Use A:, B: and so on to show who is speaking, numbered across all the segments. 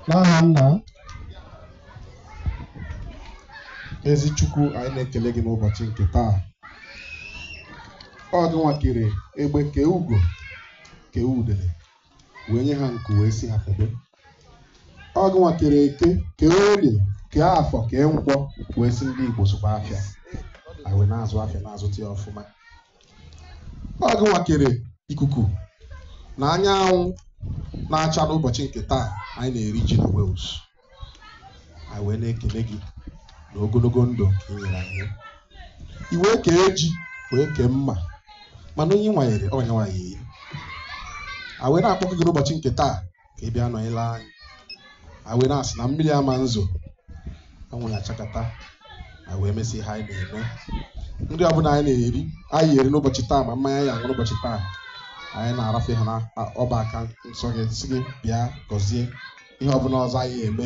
A: n'aha nna ezi chukwu anyị na-ekele gị n'ụbọchị nke taa ọ gịnwa kere egbe kee ugo kee udele wee nye ha nku wee sị ha febe ọ gịnwa kere eke kee orie kee afọ kee nkwọ wee sị ndị igbo zụba afịa anyị wee na-azụ afịa na-azụta ya ọfụma ọ gịnwa kere ikuku na anyanwụ na-acha n'ụbọchị nke taa anyị na-eri ji na Wales anyị wee na-ekele gị na ogologo ndụ nke ị nyere anyị i wee kee ji wee kee mma mana onye ị wanyere ọ yanwa ya-eri a wee na-akpọku gị n'ụbọchị nke taa ka ị bịa nọnyere anyị a wee na-asị na mmiri ama nzo anwụ ya-achakata a wee mesị ihe anyị na-eme nri ọbụla anyị na-eri anyị eri n'ụbọchị taa ma mmanya anyị ya-aṅụ n'ụbọchị taa anyị na-arafe ha n'ọba aka nsọ gị sị gị bịa gọzie ihe ọbụla ọzọ anyị ya-eme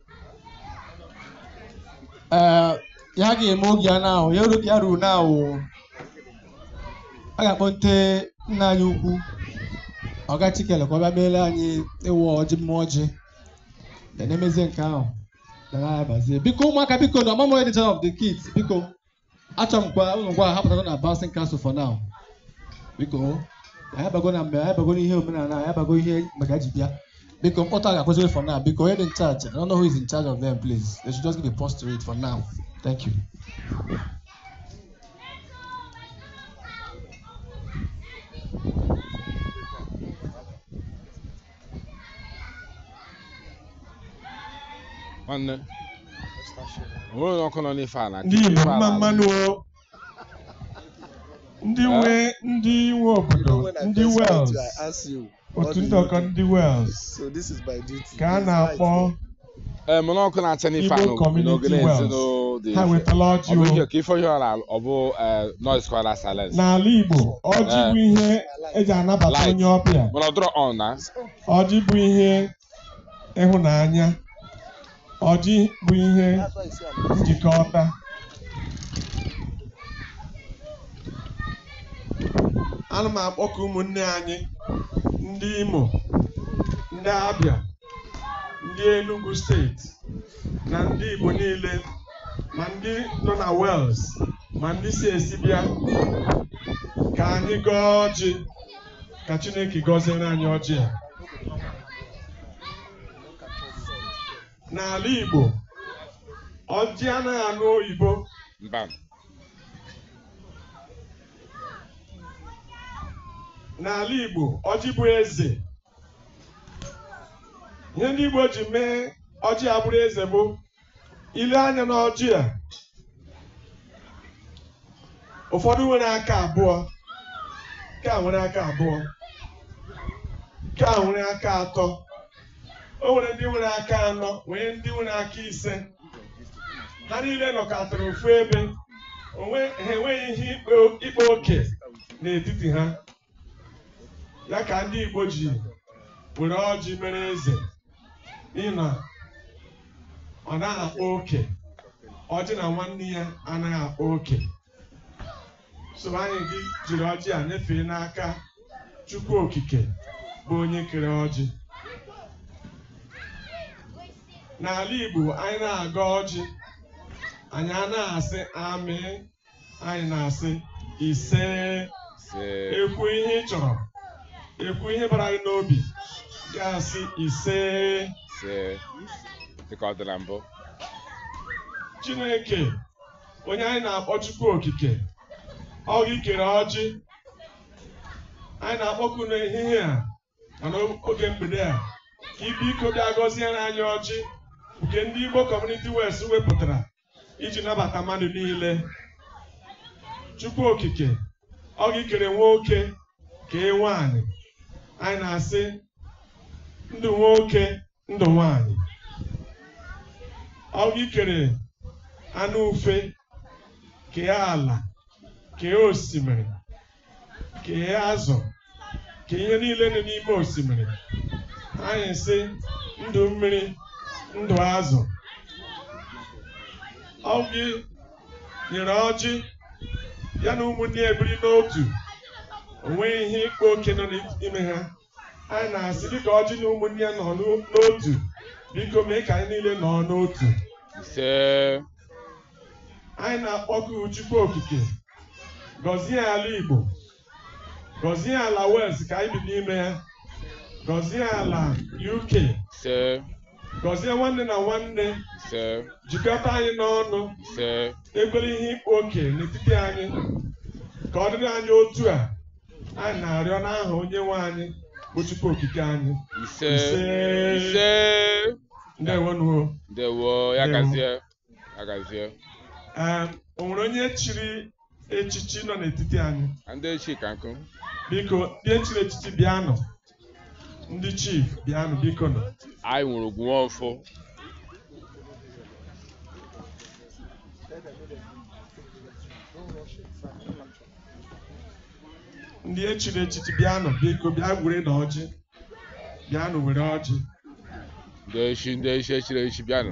B: ee ya ga-eme oge ya now ya ru- ya ruo now a ga-akpọte nna anyị ukwu ọga chikele ka ọ bịa meere anyị ịwa ọjị mmeme ọjị then e mezie nke ahụ na na-abazie biko ụmụaka biko na ọmụmụ edition of the kids biko achọ m ka ụmụaka pụtago na bouncing castle for now biko anyị abago na mgbe anyị abago n'ihe omenala anyị abago ihe maka ji bịa biko mkpọtụ a ga-akwụsịrị for now biko onye dị in charge I don't know who is in charge of them please they should just give a pause to it for now thank you
C: nwanne onwere onye ọkụ nọ n'ife ala ndị Igbo mma mma
D: nụ o. ndị nwe ndị nwe obodo ndị Wales otu nnọkọ ndị Wales So this is my duty. ka a na-akpọ Ee,
C: mana ọkụ na-acha n'ife Igbo anụ Community n'ogene Wales.
D: ezinụlọ dị ha ife. wetala Ọ ọjị bụ o. ihe ka ife onye
C: ọla ọ bụ eh, noise kwara silence. n'ala igbo
D: ọjị bụ ihe eji anabata Light. onye ọbịa Mana ọ dịrọ on
C: now. ọjị bụ ihe
D: ịhụnanya ọjị bụ ihe njikọta ana m akpọku ụmụnne anyị ndị imo ndị abia ndị Enugu steeti na ndị Igbo niile ma ndị nọ na Wales ma ndị si esi bịa ka anyị gọọ ọjị ka Chineke gọziere anyị ọjị a n'ala Igbo ọjị anaghị anụ oyibo n'ala
C: Igbo
D: ọjị bụ eze ihe ndị Igbo ji mee ọjị a bụrụ eze bụ ile anya n'ọjị a ụfọdụ nwere aka abụọ nke a nwere aka abụọ nke a nwere aka atọ o nwere ndị nwere aka anọ nwee ndị nwere aka ise ha niile nọkọtara ofu ebe ha enweghị ihe ịkpa oke n'etiti ha ya ka ndị Igbo ji were ọjị mere eze n'ihi na ọ naghị akpa oke ọjị na nwanne ya anaghị akpa oke so anyị ga-ejiri ọjị a nyefee n'aka Chukwu Okike bụ onye kere ọjị n'ala Igbo anyị na-agọ ọjị anyị anaghị asị amen anyị na-asị ise e kwuo ihe ị chọrọ e kwuo ihe bara gị n'obi ị ga-asị ise
C: dịka ọ dị na mbụ
D: Chineke onye anyị na-akpọ Chukwu Okike ọ gị kere ọjị anyị na-akpọku n'ehihie a ma n'oge mgbede a ka ị biko bịa gọziere anyị ọjị nke ndị Igbo Community Wales wepụtara iji nabata mmadụ niile Chukwu Okike ọ gị kere nwoke kee nwaanyị anyị na-asị ndụ nwoke ndụ nwaanyị ọ gị kere anụ ufe kee ala kee osimiri kee azụ kee ihe niile nọ n'ime osimiri anyị sị ndụ mmiri ndụ azụ ọ gị nyere ọjị ya na ụmụnne ya ebiri n'otu o nweghị ihe ịkpa oke nọ n'ime ha anyị na-asị dịka ọjị na ụmụnne ya nọ n'otu biko mee ka anyị niile nọ n'otu ise anyị na-akpọku Chukwu Okike gọzie ala Igbo gọzie ala Wales ka anyị bi n'ime ya gọzie ala UK ise gọzie nwanne na nwanne ise jikọta anyị n'ọnụ ise ekwela ihe ịkpa oke n'etiti anyị ka ọ dịrị anyị otu a anyị na-arịọ n'aha onye nwe anyị bụ Chukwu okike anyị ise Ise. ise ndewonụ o ndewo Ndewo.
C: ya gazie ya gazie
D: Ee, o nwere onye chiri echichi nọ n'etiti anyị ndị echi ka nkụ
C: biko ndị
D: e chiri echichi bịanụ ndị chief bịanụ bikonụ anyị nwere ogwu nwaọfọ ndị e chiri echichi bịanụ biko bịa werenụ ọjị bịanụ were ọjị
C: ndị echi ndị echi e chiri echichi bịanụ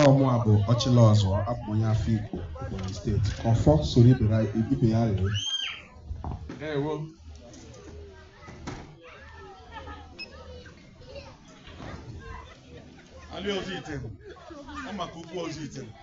A: Ọ mụa bụ Ọchịlọzụọ abụ m onye Afikpo Ebonyi steeti ka ọfọ soro ibe ya- ibe ya rere
D: Ndewo.
E: Ali Ozuitem. Ọ maka ugwu Ozuitem.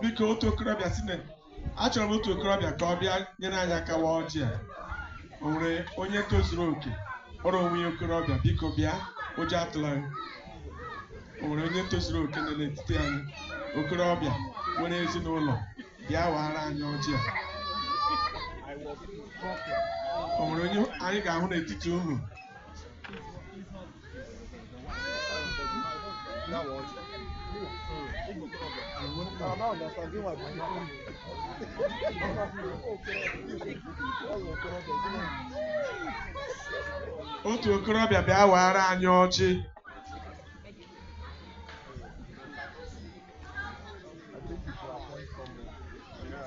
D: biko otu okorobịa sị na achọrọ m otu okorobịa ka ọ bịa nyere anyị aka wa ọjị a o nwere onye tozuru oke kpọrọ onwe ya okorobịa biko bịa ụjọ atụla anyị o nwere onye tozuru oke nọ n'etiti anyị okorobịa nwere ezinụlọ bịa wara anyị ọjị a o nwere onye anyị ga-ahụ n'etiti unu otu okorobịa bịa wara anyị ọjị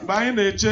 D: mgbe anyị na-eche